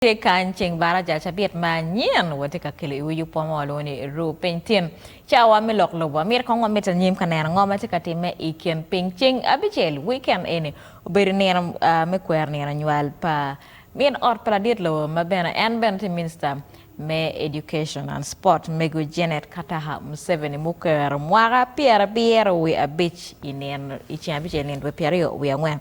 tye kany ceng baraja cabit ma nyen watye ka kelo iwi yub wa ma walwongo ni Ru Piny Tin. Cawa me lok lobo wa myero kong wamit anyim ka neno ngo ma tye ka timme i kin piny. Ceng abicel, weekend, eni obedo nino me kwero nino nywal pa min ot pa ladit lobo ma bene en bene tye minista me Education and Sport mego Janet Kataha Museveni mukero mwaka pyerabiro wi abic i ceng abicel nino dwe pyeraryo wi angwen.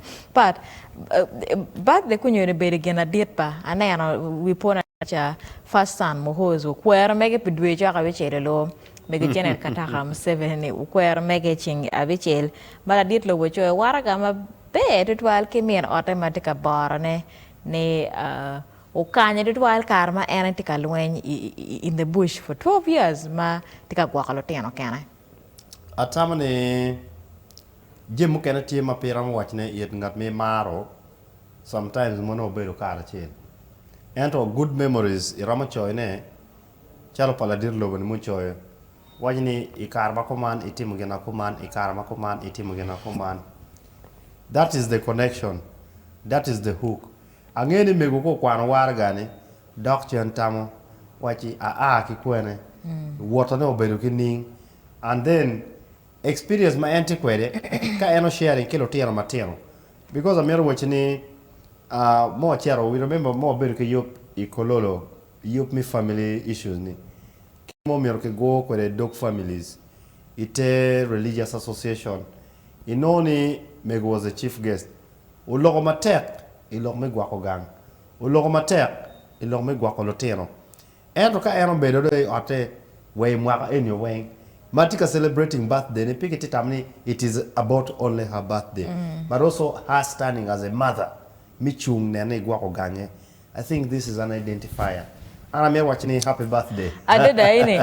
Birthday kunyere bedo gin adit pa aneno wi pona cha first son Muhoozi okwero mege pi dwe cok abicel i loo mege Janet Kataka Museveni ni okwero mege i ceng abicel ma ladit lobo coyo waraga maber tutwal ki min ote ma tye ka borone ni okanyo tutwal kare ma en tye ka lweny in the bush for 12 years ma tye ka gwoko lutino kene. Atamo ni. Jami mukene tye ma pe iromo wacone it ngat ma imaro, sometimes mono wubedo karacel. Ento good memories iromo coyone calo pa ladit lobo-ni mucoyo, waco ni i kare ma kuman itimo gin ma kuman, i kare ma kuman itimo gin ma kuman. That is the connection, that is the hook. Angeyo ni mego ka okwano waraga-ni dok cen tamo wacci aa ki kwene, wotone obedo ki ning and then Experience ma en tye kwede ka en o sharing ki lutino matino because amito waci ni ma wacito we remember ma wabedo ki yub i Kololo yub me family issues ni kit ma omyero ki gur kwede dog families i te religious association i nongo ni mego was a chief guest oloko matek i lok me gwako gang oloko matek i lok me gwako lutino Ento ka en obedo dong i otte wa i mwaka enio weng ma atye ka celebrating birthday ne pe kitye tamo ni it is about only her birthday but also her standing as a mother me cung neno ni gwoko gange I think this is an identifier an amito waco ni happy birthday. Adada eni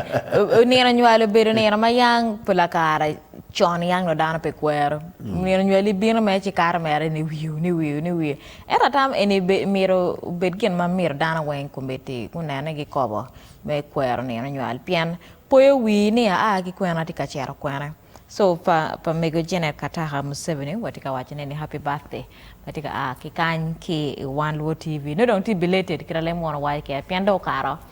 nino nywali obedo nino ma yang pi lakara con yang dong dano pe kwero nino nywali bino mere ci kato mere ni wiu ni wiu ni wiu. Ento atam eni myero obed gin ma myero dano weng kometti gunene gikobo me kwero nino nywal pien poyo wii ni aa ki kwena atye ka cito kwene. So pa pa mego Janet Kataka Museveni watye ka waco ne ni happy birthday matye ka aa ki kany ki i wan luo TV nongo dong tye belated kit alem wun owaco keken pien dong okato.